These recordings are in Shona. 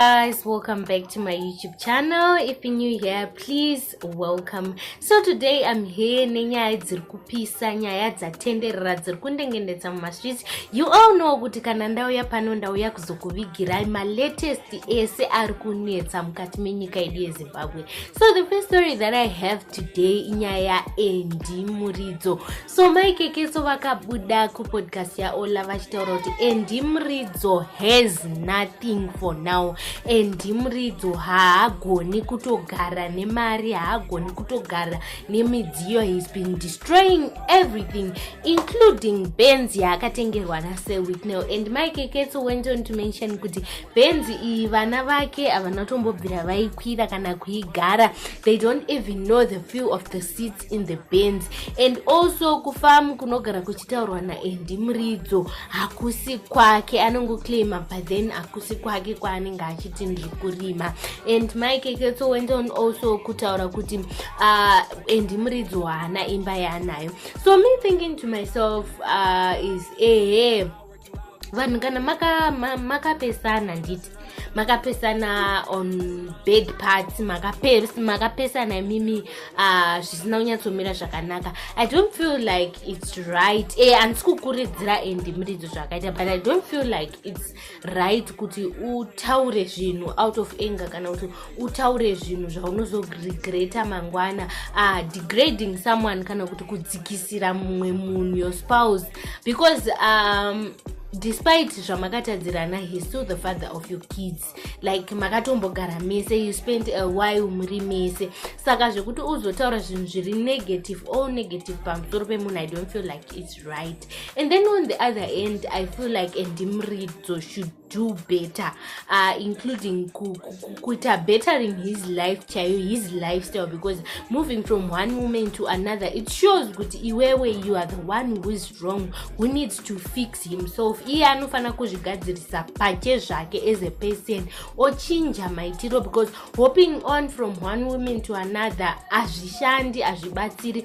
guys welcome back to my youtube channel if you're new here please welcome so today i'm here nenyaya dziri kupisa nyaya dzatenderera dziri kundengendedza mumastreets you all know kuti kana ndauya pano ndauya kuzokuvigirai malatest ese ari kunetsa mukati menyika yedu yezimbabwe so the first story that i have today inyaya ya endi muridzo so mai kekeso vakabuda kupodcast yaola vachitaura kuti endi muridzo has nothing for now endi muridzo haagoni kutogara nemari haagoni kutogara nemidziyo he's been destroying everything including benz yaakatengerwa nasir witnel and mai kekeso went on to mention kuti benz iyi vana vake havana kutombobvira vaikwira kana kuigara they don't even know the few of the seats in the bands and also kufamu kunogara kuchitaurwa naendi muridzo hakusi kwake anongoclaima but then hakusi kwake kwaanenge achiti ndiri kurima and maikeketso went on also kutaura kuti uh, endi muridzo haana imba yaanayo so me thinking to myself uh, is ehe vanhu kana makapesana maka nditi makapesana on bed parts makapesana imimi ah, zvisina uh, kunyatsomira zvakanaka i don't feel like its right e eh, handisi kukuridzira endi muridzo zvakaita but i don't feel like its right kuti utaure zvinhu out of anger kana kuti utaure zvinhu zvaunozoregreta mangwana uh, degrading someone kana kuti kudzikisira mumwe munhu your spouse because um, despite zvamakatadzirana he still the father of your kids like makatombogara mese you spent a while muri mese saka zvekuti uzotaura zvinhu zviri negative all negative pamusoro pemunhu i don't feel like its right and then on the other end i feel like endimridzo should do better uh, including kuita bettering his life chaiyo his lifestyle because moving from one woman to another it shows kuti iwewe you are the one who is wrong who needs to fix himself iye anofanira kuzvigadzirisa pache zvake as a person ochinja maitiro because hoping on from one woman to another hazvishandi hazvibatsiri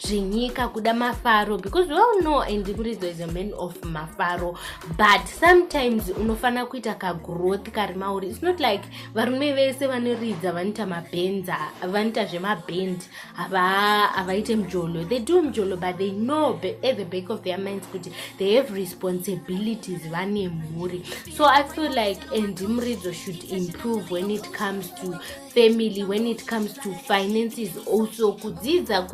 zvenyika kuda mafaro because we all know and muridzo is a man of mafaro but sometimes unofanira kuita kagrowth kari mauri its not like varume vese vanoridza vanoita mabenza vanoita zvemabend havaite mjolo they do mjolo but they know at the back of their minds kuti they have responsibilities vane mhuri so i feel like and muridzo should improve when it comes to family when it comes to finances also kudzidza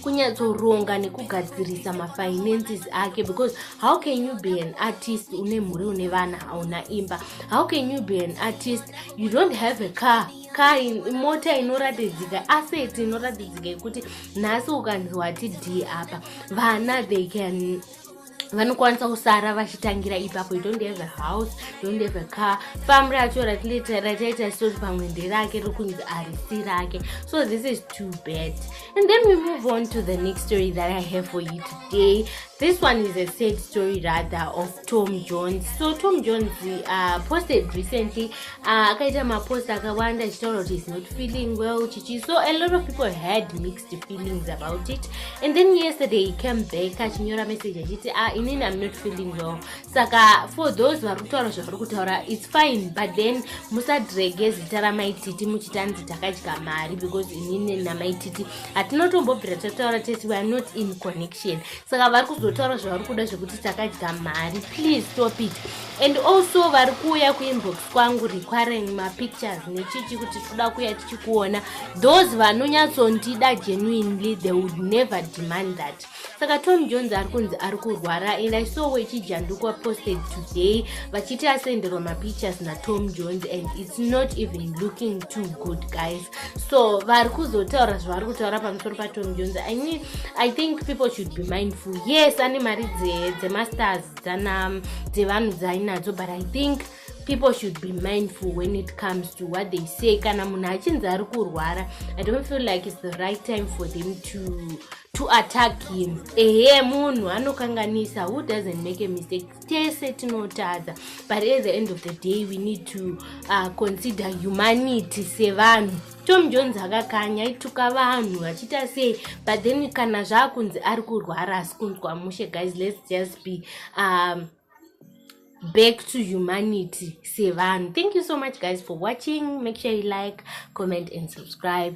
kunyatsoronga nekugadzirisa mafinances ake because how can you be an artist une mhuri une vana hauna imba how can you be an artist you don't have a car car mota inoratidzika asset inoratidzika yekuti nhasi ukanzi wati d apa vana they can vanokwanisa kusara vachitangira ipapo you don't have a house you don't have a car famu racho rachaita soti pamwe nderake riri kunzi arisi rake so this is too bad and then we move on to the next story that i have for you today this one is a sad story rather of tom jones so tom jones uh, posted recently uh, akaita uh, mapost akawanda achitaura kuti is not feeling well chichi so a lot of people had mix feelings about it and then yesterday he came back achinyora message achiti ah inini i'm not feeling well saka for those vari kutaura zvavari kutaura its fine but then musadrege zita ramaititi muchitanzi takadya mari because inini namaititi hatinotombobvira tataura tese weare not in connection saka vari kuzotaura zvavari kuda zvekuti takadya mari please stop it and also vari kuuya kuinbox kwangu requiring mapictures nechichi kuti tikuda kuuya tichikuona those vanonyatsondida genuinely they would never demand that saka tom jones ari kunzi ari kurwara and i saw wechijandukwa posted today vachiti asenderwa mapictures natom jones and its not even looking too good guys so vari kuzotaura zvavari kutaura pamusoro patony jones i mean i think people should be mindful yes ane mari dzemasters dzana dzevanhu dzainadzo but i think people should be mindful when it comes to what they say kana munhu achinzi ari kurwara i don't feel like its the right time for them to to attack him ehe munhu anokanganisa who doesn't make a mistake tese tinotadza but at the end of the day we need to uh, consider humanity sevanhu tom jones akakanya aituka vanhu vachiita sei but then kana zvaakunzi ari kurwara asi kunzwa mushe guys let's just be um, back to humanity sevanhu thank you so much guys for watching make sure you like comment and subscribe